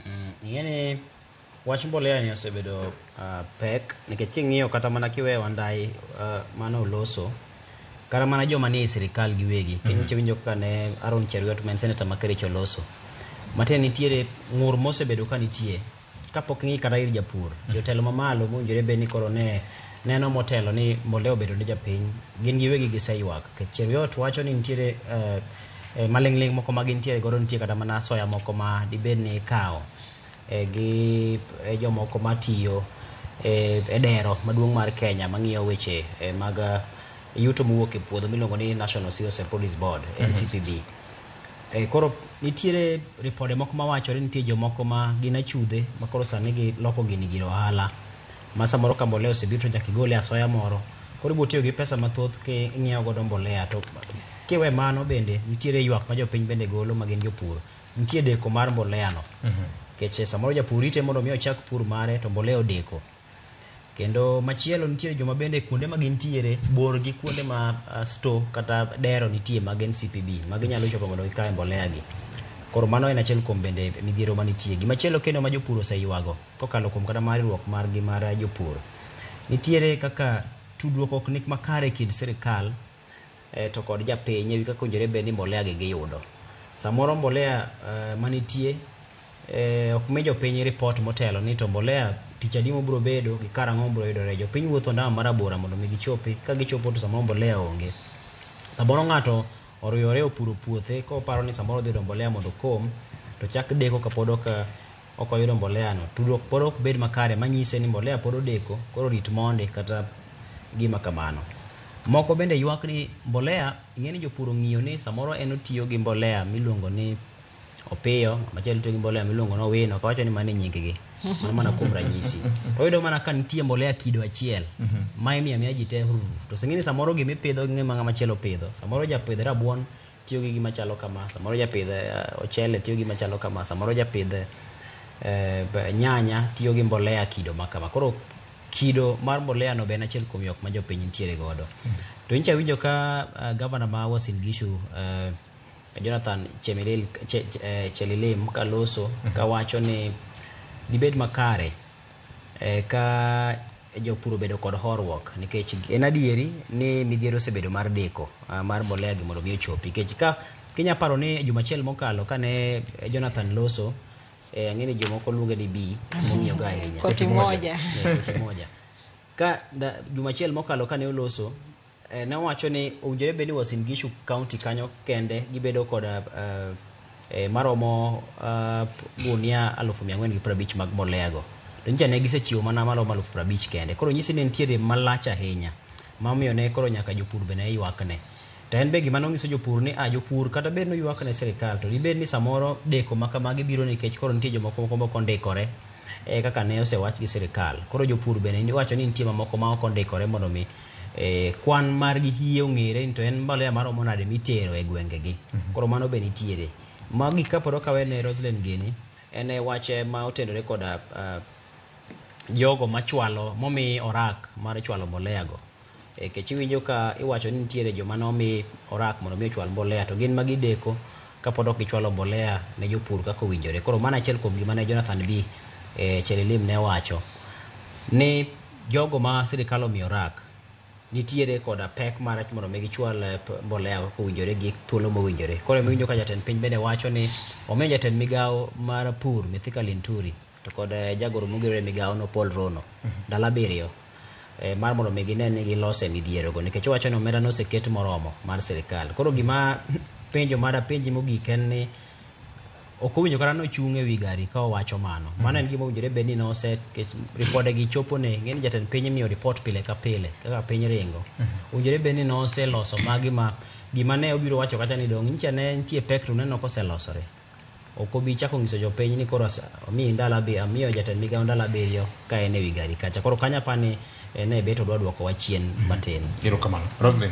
Mm, ing'e ni wach mbolea ni osebedo uh, pek nikech king'iyo kata mana kiweyo andai uh, ah, mane oloso kata mana joma ni e sirikal giwegi kendo mm -hmm. winjo kaka ne Aaron Cheruiyot ma en seneta ma Kericho oloso matiende nitiere ng'ur mosebedo ka nitie kapok ng'i kata ir japur mm -hmm. jotelo mamalo mowinjore bed ni koro ne neno motelo ni mbolea obedo ne japiny gin giwegi giseywak Cheruiyot wacho ni nitiere uh, E, maling'ling' moko ma gintiere godo nitie kata mana soya moko ma dibed ni ikawo e, gi e, jomoko matiyo e, e dero maduong' mar Kenya mang'iyo weche e, mag e, yuto mowuok e puodho miluongo ni National Cereals and Produce Board, NCPB. E, koro nitiere ripode moko mawacho ni nitie jomoko ma gin achudhe ma koro sani giloko gini gir ohala. ma samoro ka mbolea osebiro to nyaka igole asoya moro koro ibiro tiyo gi pesa mathoth king'iewo godo mbolea to kiwe mano bende nitiere ywak ma jopiny bende golo ma gin jopur nitie deko mar mbolea no mhm. nikech samoro japur rite mondo mi ochak pur mare to mbolea odeko kendo machielo nitiere joma bende kuonde ma gintiere bor gi kuonde ma uh, store kata dero nitie mag ncpb ma ginyalo chopo mondo gikae mbolea gi koro mano en achiel kuom bende midhiero manitie gimachielo kendo ma jopur oseywago kokalo kuom kata mar riwruok margi mar jopur. Nitiere kaka tudruok ok ni makare e kind sirikal to kod japiny e wi kaka owinjore bed ni mbolea gi giyudo. Samoro mbolea manitie ok mi jopiny report motelo ni to mbolea tich adi mobiro bedo gi karang'o mobiro yudore. Jopiny wuotho ondamo ma rabora mondo mi gichopi, ka gichopo to samoro mbolea onge. Samoro ng'ato oruyore opuro puothe koparo ni samoro odhi yudo mbolea mondo okom, to chak deko kapod ok ok oyudo mbolea no, tudruok pod ok bed makare manyise ni mbolea pod odeko koro rit mondi kata gima kamano. Moko bende ywak ni mbolea, ing'e ni jopur ong'iyo ni samoro en otiyo gi mbolea miluongo ni opiyo, machielo otiyo gi mbolea miluongo ni owino, kawacho ni mano e nyinggi. Mano mana kuom ranyisi. To oyudo mana ka nitie mbolea kido achiel ma imiyo amiya ji te, to oseng'e ni samoro gimipidho gi ng'ama chielo pidho. Samoro japidh rabuon tiyo gi gima chalo kama, samoro japidh eh, ochele tiyo gi gima chalo kama, samoro japidh eh, b- nyanya tiyo gi mbolea kido ma kama. Koro kido mar mbolea no be en achiel kuom yok ma jopiny nitiere godo. To incha winjo ka eh, gavana ma Uasin Gishu eh, Jonathan Chemelil Che- Che- eh, Chelilim kaloso kawacho ni dibed makare Eka jopur obedo kod horuok nikech en adieri ni midhiero osebedo mar deko ah, mar mbolea gi mondo mi ochopi nikech ka kinya paro ni e juma achiel mokalo kane Jonathan Loso eh, ang'e ni jomoko luonge ni bi mong'iyoga ahinya Koti moja. Eh, koti moja ka da, juma achiel mokalo kane oloso Eh, ne wacho ni owinjore bed ni Uasin Gishu County kanyo kende gibedo koda eh, eh, maromo eh, gunia alufu mia ang'wen gi piero abich mag moleago to nyicha ne gisechiwo mana maromo alufu piero abich kende koro nyisi ni nitiere malach ahinya mamiyo ne koro nyaka jopur be ne ywakne to en be gima nonyiso jopur ni a jopur kata bed ni oywak ne sirikal to dibed ni samoro deko ma kamagi biro nikech koro nitie jomoko moko moko ondikore eh, kaka ne osewach gi sirikal koro jopur bende wacho ni nitie mamoko ma ok ondikore mondo mi eh, kwan margi hie ong'ere ni to en mbolea maromo nade mitero e gwengegi koro mano be nitiere magi kapod okawe ne Roslyn gini en eh, wach eh, ma otenore koda ah, jogo machwalo momi orak mar chwalo mbolea go e kech iwinjo ka iwacho ni nitiere joma nomi orak mondo mi ochwal mbolea to gin ma gideko kapod ok gichwalo mbolea ne jopur kaka owinjore koro mano achiel kuom gima ne Jonathan B e, Chelilim ne wacho ni Jogo ma sirikal omiyo rak nitiere koda pek mar mondo omi gichwal eh, mbolea kaka owinjore gi thuolo mowinjore. Koro ema winjo ka jatend piny bende wacho ni omiyo jatend migawo mar pur Mithika Linturi to kod eh, jagoro mogirore e migawono Paul Rono ndalo abiriyo eh, mar mondo omi gine ni giloso e midhierogo nikech owacho ni omenda noseket moromo mar sirikal. Koro gima penjo madapenji mogik en ni ok owinjo kata ni ochung' e wi gari ka owacho mano. Mano en gima owinjore bed ni nose kes- ripodegi chopone. Ng'e ni jatend piny imiyo ripot pile ka pile kaka piny ringo. Owinjore bed ni noseloso magi ma gima ne obiro wacho kacha ni dong' nyicha ne nitie pek to uneno koselosore. Ok obi chako nyiso jopiny ni koro ase- amiyi ndalo abi- amiyo jatend migawo ndalo abiriyo ka en e wi gari kacha. Koro kanyo apa ni en e bet odwa dwokowa chien matin. Erokamano. Roslyn.